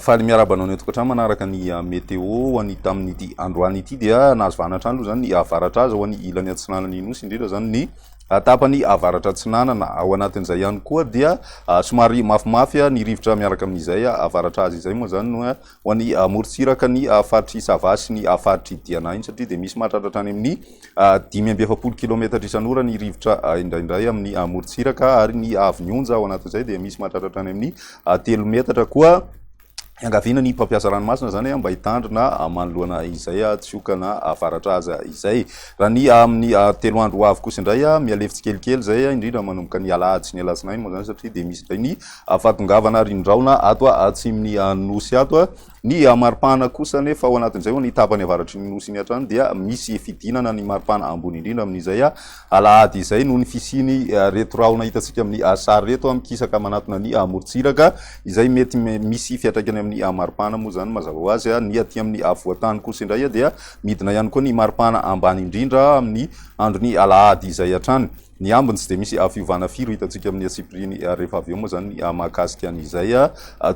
faly miaraba anao ny tokantrano manaraka ny ah, météo ho an'ny tamin'ity androany ity dia nahazo vanatrano aloha zany ny avaratra aza ho an'ny ilany atsinanany nosy indrindra zany ny atapany ah, avaratra atsinanana ao anatin'izay ihany koa dia ah, somary mafimafy ny rivotra miaraka amin'izay avaratra azy izay moa zany no ho any amorontsiraka ny faritr'i Sava sy ny faritr'i Diana iny satria dia misy mahatratra hatrany amin'ny dimy amby efapolo kilometatra isan'ora ny rivotra indraindray amin'ny amorontsiraka ary ny avon'ny onja ao anatin'izay dia misy mahatratra hatrany amin'ny telo metatra koa iangaviana ny mpampiasa ranomasina izany mba hitandrina manoloana izay tsy hokana avaratra aza izay raha ny amin'ny telo andro ho avy kosa indray mialevo tsikelikely izay indrindra manomboka ny alahady sy ny alatsinainy moa izany satria dia misy indray ny Afatongavana ary indraona ato atsimn'ny Nosy ato. Ny maripana kosa anefa ao anatin'izay ho ny tapany avaratry ny Nosy iny hatrany dia misy fidinana ny maripana ambony indrindra amin'izay alahady izay noho ny fisiany reto rahona hitantsika amin'ny sary reto mikisaka manatona ny morontsiraka izay mety misy fiatraikany amin'ny maripana moa izany mazava ho azy ny aty amin'ny afovoantany kosa indray dia midina ihany koa ny maripana ambany indrindra amin'ny andron'ny alahady izay hatrany. Ny ambiny tsy dia misy fiovana firy hitantsika amin'ny antsipiriany ary rehefa avy eo moa izany ny mahakasika an'izay.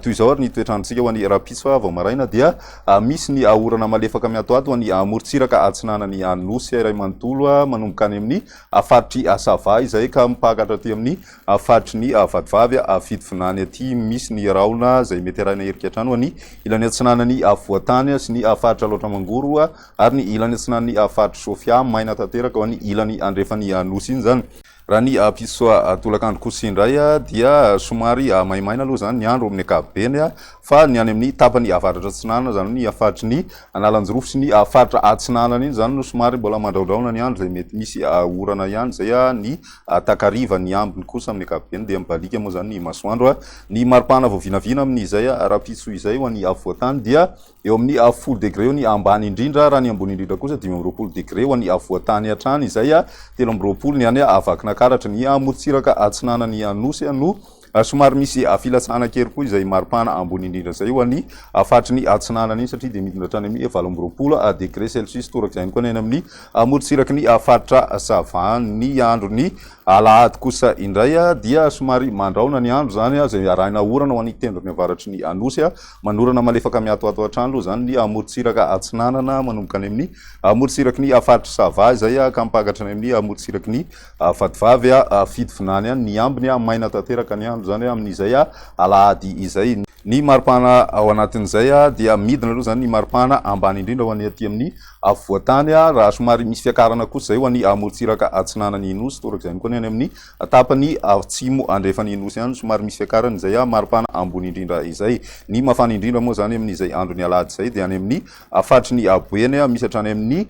Toy izao ary ny toetr'androntsika ho an'ny rahampitso, vao maraina dia misy ny orana malefaka miantoanto ho an'ny morontsiraka atsinanan'ny Nosy iray manontolo, manomboka any amin'ny faritry Sava izay ka mipaka hatraty amin'ny faritry ny Vatovavy Fitovinany aty. Misy ny rahona izay mety arahina erika hatrany ho an'ny ilany atsinanan'ny Afovoantany sy ny faritra Alaotra Mangoro. Ary ny ilany atsinan'ny faritr'i Sofia, maina tanteraka eo amin'ny ilany andrefan'ny nosy iny izany. Raha ny mpisotro tolakandro kosa indray dia somary maimaina aloha izany ny andro amin'ny ankapobeny, fa ny any amin'ny tapany avaratra-atsinanana, izany hoe ny faritry ny Analanjirofo sy ny faritra atsinanana iny izany no somary mbola mandraondraona ny andro izay mety misy orana ihany izay ny takariva. Ny ambiny kosa amin'ny ankapobeny dia mibaliaka moa izany ny masoandro. Ny maripana vao vinavina amin'izay rahampitso izay ho an'ny afovoan-tany dia. Eo amin'ny avo folo degre eo ny ambany indrindra, raha ny ambony indrindra kosa dimy amby roapolo degre ho an'ny afovoan-tany hatrany izay telo amby roapolo, ny any Vakinankaratra, ny amorontsiraka atsinanan'ny Anosy no somary misy filatsahana kely koa izay maripana ambony indrindra izay ho an'ny faritry ny atsinanana iny satria dia midina hatrany amin'ny valo amby roapolo degre celsius torak'izay ihany koa ny any amin'ny amorontsiraky ny faritra Savandy. Ny andron'ny alahady kosa indray dia somary mandraona ny andro izany izay arahina orana ho an'ny tendrony avaratry ny Anosy Manorana malefaka miatoato hatrany aloha izany ny amorontsiraka atsinanana manomboka any amin'ny amorontsiraky ny faritr'i Sava izay ka mipakatra any amin'ny amorontsiraky ny Vatovavy Fitovinany any. Ny ambiny maina tanteraka ny andro izany amin'izay alahady izay. Ny maripana ao anatin'izay dia midina aloha izany ny maripana ambany indrindra ho an'ny aty amin'ny afovoan-tany raha somary misy fiakarana kosa izay ho an'ny amorontsiraka atsinanan'ny Nosy torak'izay ihany koa ny any amin'ny Tapany atsimo andrefan'ny Nosy ihany no somary misy fiakarany izay aho maripana ambony indrindra izay. Ny mafana indrindra moa izany amin'izay andron'ny alahady izay dia any amin'ny faritrin'i Boeny misy hatrany amin'ny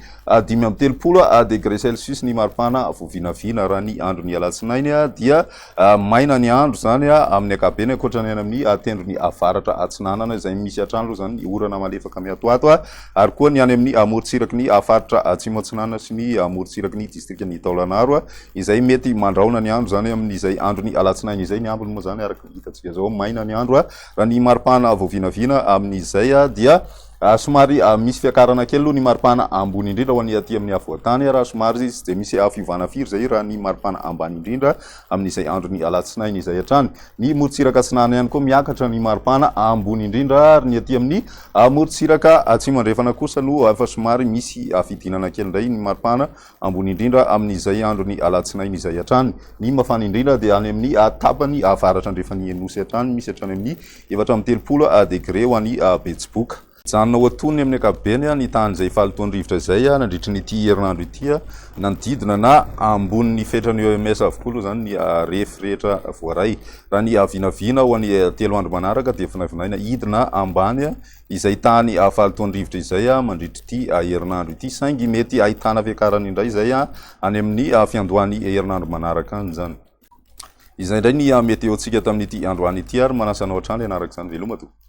dimy amby telopolo degré celsius ny maripana voavinavina. Raha ny andron'ny alatsinainy dia maina ny andro izany amin'ny ankapobeny ankoatra ny any amin'ny tendrony avaratra atsinanana izay misy hatrany aloha izany ny orana malefaka miatoato ary koa ny any amin'ny morontsiraky ny faritra atsimo atsinanana sy ny morontsiraky ny distrikan'i Taolagnaro Izay mety mandrahona ny andro izany amin'izay andron'ny alatsinainy izay ny ambiny moa izany araka ny hitantsika izao maina ny andro raha ny maripana vao vinavina amin'izay dia somary misy fiakarana kely aloha ny maripana ambony indrindra ho an'ny aty amin'ny afovoantany raha somary izy dia misy fiovana firy izay raha ny maripana ambany indrindra amin'izay andron'ny alatsinainy izay hatrany ny morontsiraka atsinanana ihany koa miakatra ny maripana ambony indrindra ary ny aty amin'ny morontsiraka atsimo andrefana kosa no efa somary misy afidinana kely indray ny maripana Ambony indrindra amin'izay andron'ny alatsinainy izay hatrany. Ny mafana indrindra dia any amin'ny tapany avaratra-andrefan'ny Nosy hatrany, misy hatrany amin'ny efatra amby telopolo degre ho an'ny Betsiboka. Mijanona ho antonony amin'ny ankapobeny ny tahan'izay fahalotoan'ny rivotra izay nandritra an'ity herinandro ity. Nanodidina na ambonin'ny fetran'ny OMS avokoa aloha izany ny refy rehetra voaray. Raha ny vinavina ho an'ny telo andro manaraka dia vinavinaina hidina ambany izay tany Fahalotoandrivotra izay mandritra ity herinandro ity saingy mety ahitana fiakarany indray izay any amin'ny fiandohan'ny herinandro manaraka izany. Izay indray ny meteontsika tamin'ity androany ity ary manasa anao hatrany hanaraka izany veloma tompoko.